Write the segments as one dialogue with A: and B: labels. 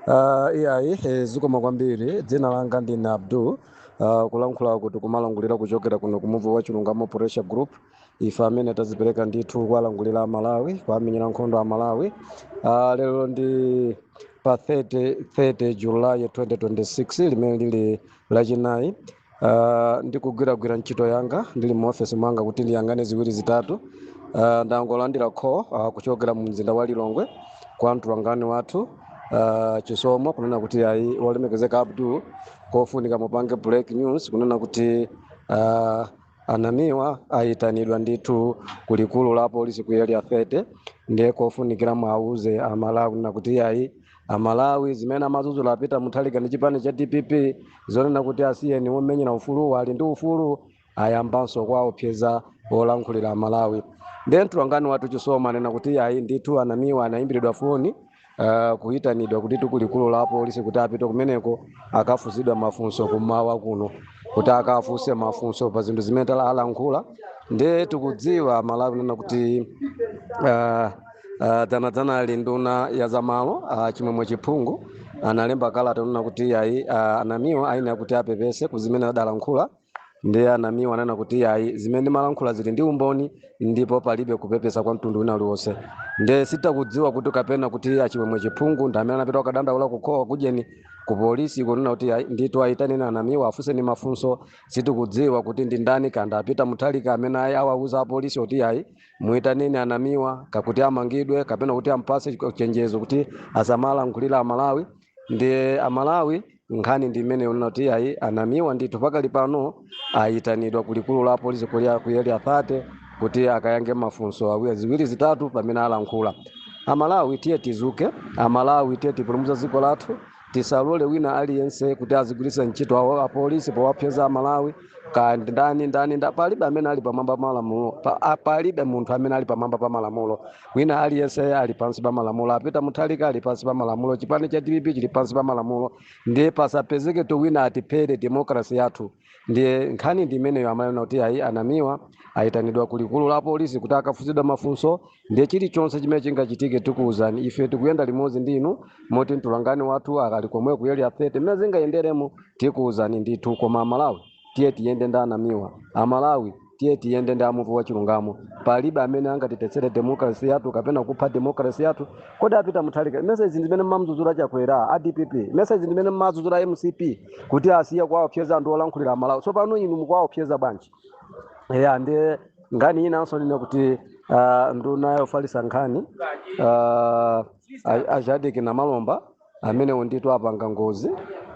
A: Uh, iyayi eh, zikomo kwambiri dzina langa ndine abdul uh, kulankhula kuti kumalankhulira kuchokera kuno ku muvi wa chilungamo pressure group ife amene tadzipereka ndithu kuwalankhulira amalawi kuwamenyera nkhondo amalawi uh, lero ndi pa 30, 30 julayi 2026 limene lili lachinayi Ah, ndikugwiragwira ntchito yanga ndili mu ofesi mwanga kuti ndiyang'ane ziwiri zitatu Ah, ndangolandira call ah, kuchokera mu mzinda wa lilongwe kwa mtolankhani wathu ah, chisomo kunena kuti ayi wolemekezeka abdul kofunika mupange break news kunena kuti ah, anamiwa ayitanidwa ndithu ku likulu la polisi ku area 30 ndiye kofunikira mwauze amalawi kunena kuti ayi amalawi zimene amadzudzula a peter mutharika ndi chipani cha dpp zonena kuti asiyeni womenyera ufuluwa ali ndi ufulu ayambanso kuwaopseza olankhulira amalawi ndiye mtolankhani wathu chisomo anena kuti ayi ndithu anamiwa anayimbiridwa foni uh, kuyitanidwa kuti ku likulu la polisi kuti apite kumeneko akafunsidwe mafunso kummawa kuno kuti akafunse mafunso pa zinthu zimene adalankhula ndiye tikudziwa amalawi kunena kuti uh, Uh, dzanadzanali nduna ya zamalo uh, chimwemwe chipungu analemba kalata kunena kuti ayi uh, anamiwa ayenera kuti apepese ku zimene adalankhula ndiye anamiwa ananena kuti ayi zimene ndimalankhula zili ndi umboni ndipo palibe kupepesa kwa mtundu wina uliwonse ndiye sitikudziwa kuti kapena kuti achimwemwe chipungu ndi amene anapita kukadandaula kukhowa kujeni ku polisi kunena kuti ayi, ndithu ayitaneni anamiwa afunseni mafunso sitikudziwa kuti ndi ndani kaya ndi a peter mutharika amene ayi awauza apolisi kuti ayi Muitaneni a Namiwa kaya kuti amangidwe kapena kuti ampatse chenjezo kuti asamalankhulire Amalawi ndiye Amalawi nkhani ndi imeneyo kunena kuti ayi anamiwa ndithu pakali pano ayitanidwa ku likulu la polisi kulia ku area 30 kuti akayankhe mafunso awiri ziwiri zitatu pamene alankhula amalawi tiye tidzuke amalawi tiye tipulumutse dziko lathu tisalole wina aliyense kuti azigwiritsa ntchito apolisi powaopseza amalawi kaya ndi ndani ndani nda palibe amene ali pamwamba pa malamulo pa, a- palibe munthu amene ali pamwamba pa malamulo wina aliyense ali pansi pa malamulo a peter mutharika ali pansi pa malamulo chipani cha dpp chili pansi pa malamulo ndiye pasapezeketu wina atiphere demokrasi yathu ndiye nkhani ndi imeneyo amalawi kunena kuti ayi anamiwa ayitanidwa ku likulu la polisi kuti akafunsidwe mafunso ndiye chilichonse chimene chingachitike tikuwuzani ife tikuyenda limodzi ndi inu moti mtulangani wathu akali komwe ku area 30 mmene zingayenderemo tikuwuzani ndithu koma amalawi tiye tiyende ndi anamiwa amalawi tiye tiyende ndi a muvi wa chilungamo palibe amene angatithetsere demokrasi yathu kapena kupha demokrasi yathu kodi a peter mutharika mesa izi ndimene mmamdzudzula chakwera a dpp mesa izi ndimene mmadzudzula mcp kuti asiye kuwaopseza anthu olankhulira amalawi tsopano inu mukuwaopseza bwanji eya ndiye nkhani inanso yonena kuti ah, nduna yofalitsa nkhani ah, a- a Shadric namalomba amenewo ndithu apanga ngozi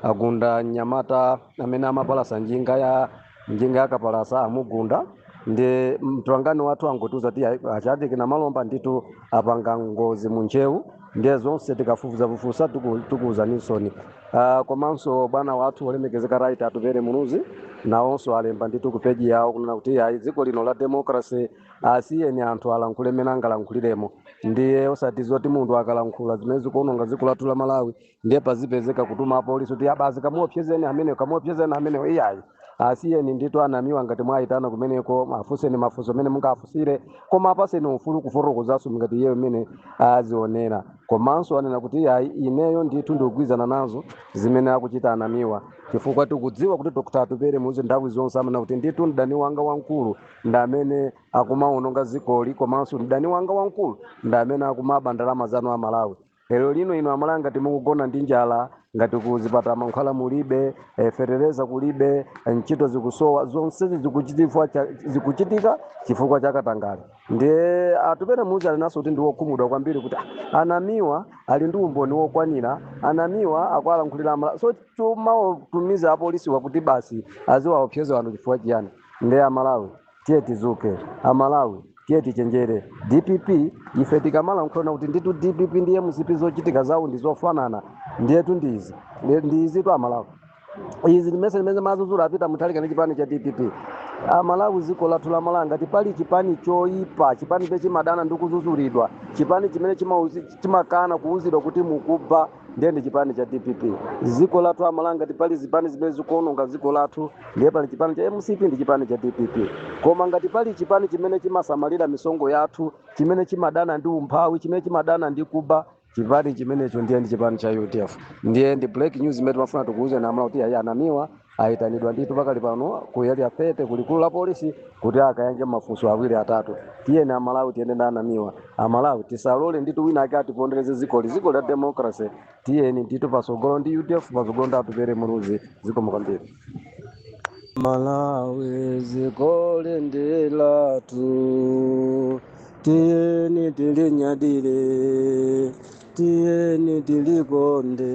A: agunda mnyamata amene amapalasa njinga ya njinga yakapalasa amugunda ndi mtolankhani wathu angotiuza kuti ayi a Chatinkha Malomba ndithu apanga ngozi mu ntcheu ndiye zonse tikafufuzafufuza tiku- tikuwuzani soon uh, komanso bwana wathu olemekezeka right Atupere Muluzi nawonso alemba ndithu ku peji yawo kunena kuti ayi dziko lino la democracy asiyeni anthu alankhule mmene angalankhuliremo ndiye osati zoti munthu akalankhula zimene zikuononga dziko lathu la malawi ndiye pazipezeka kutuma apolisi kuti basi kamuopsezeni ameneyo kamuopsezeni ameneyo iyayi asiyeni nditu anamiwa ngati mwayitana kumeneko mafunseni mafunso amene mungafunsire koma apaseni ufulu ufotokozanso ngati iyeyo mmene azionera komanso anena kuti iyayi ineyo ndithu ndikugwirizana nazo zimene akuchita anamiwa chifukwa tikudziwa kuti dr Atupere Muluzi nthawi zonse amanena kuti ndithu mdani wanga wamkulu ndi amene akumawononga dzikoli komanso mdani wanga wamkulu ndi amene akumaba ndalama zanu a malawi lero lino inu amalawi ngati mukugona ndi njala ngati kuzipatala mankhwala mulibe eh, fetereza kulibe eh, ntchito zikusowa zonsezi zikuchitifwa cha- zikuchitika chifukwa cha katangale ndiye Atupere Muluzi anenanso kuti ndiwokhumudwa kwambiri kuti "Ah, anamiwa ali ndi umboni wokwanira anamiwa akuwalankhulira amalawi so kumawatumiza apolisiwa kuti basi aziwaopseza wanthu chifukwa chiyani Nde amalawi tiye tizuke amalawi tiye tichenjere dpp ife tikamalankhula kuti nditu dpp ndi mcp zochitika zawo ndi zofanana ndiyetu ndi izi Ndi- ndi izitu amalawi izi ndi zimene timazuzula a Peter Mutharika ndi chipani cha dpp amalawi ziko lathu la malawi ngati pali chipani choyipa chipani chimene chimadana ndi kuzuzulidwa chipani chimene chimauzi- chimakana kuwuzidwa kuti mukuba ndiye ndi chipani cha dpp dziko lathu amalawi ngati pali zipani zimene zikuononga dziko lathu ndiye pali chipani cha mcp ndi chipani cha dpp koma ngati pali chipani chimene chimasamalira misonkho yathu chimene chimadana ndi umphawi chimene chimadana ndi kuba chipani chimenecho ndiye ndi chipani cha udf ndiye ndi breaking news imene timafuna tikuuzeni amalawi kuti ayi anamiwa ayitanidwa ndithu pakali pano ku area 30 ku likulu la polisi kuti akayankhe mafunso awiri atatu tiyeni amalawi tiyende ndi anamiwa amalawi tisalole ndithu wina ake atipondereze zikoli ziko la democracy tiyeni ndithu pasogolo ndi udf pasogolo ndi atupere muluzi zikomo kwambiri malawi zikoli ndi lathu tiyeni tilinyadire tiyeni tilikonde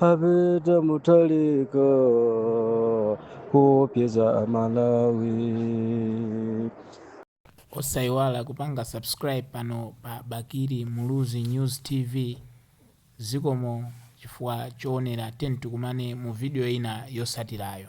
A: A Peter Mutharika kuopseza amalawi osayiwala kupanga subscribe pano pa bakili muluzi news tv zikomo chifukwa choonera tiyeni tikumane mu video ina yosatilayo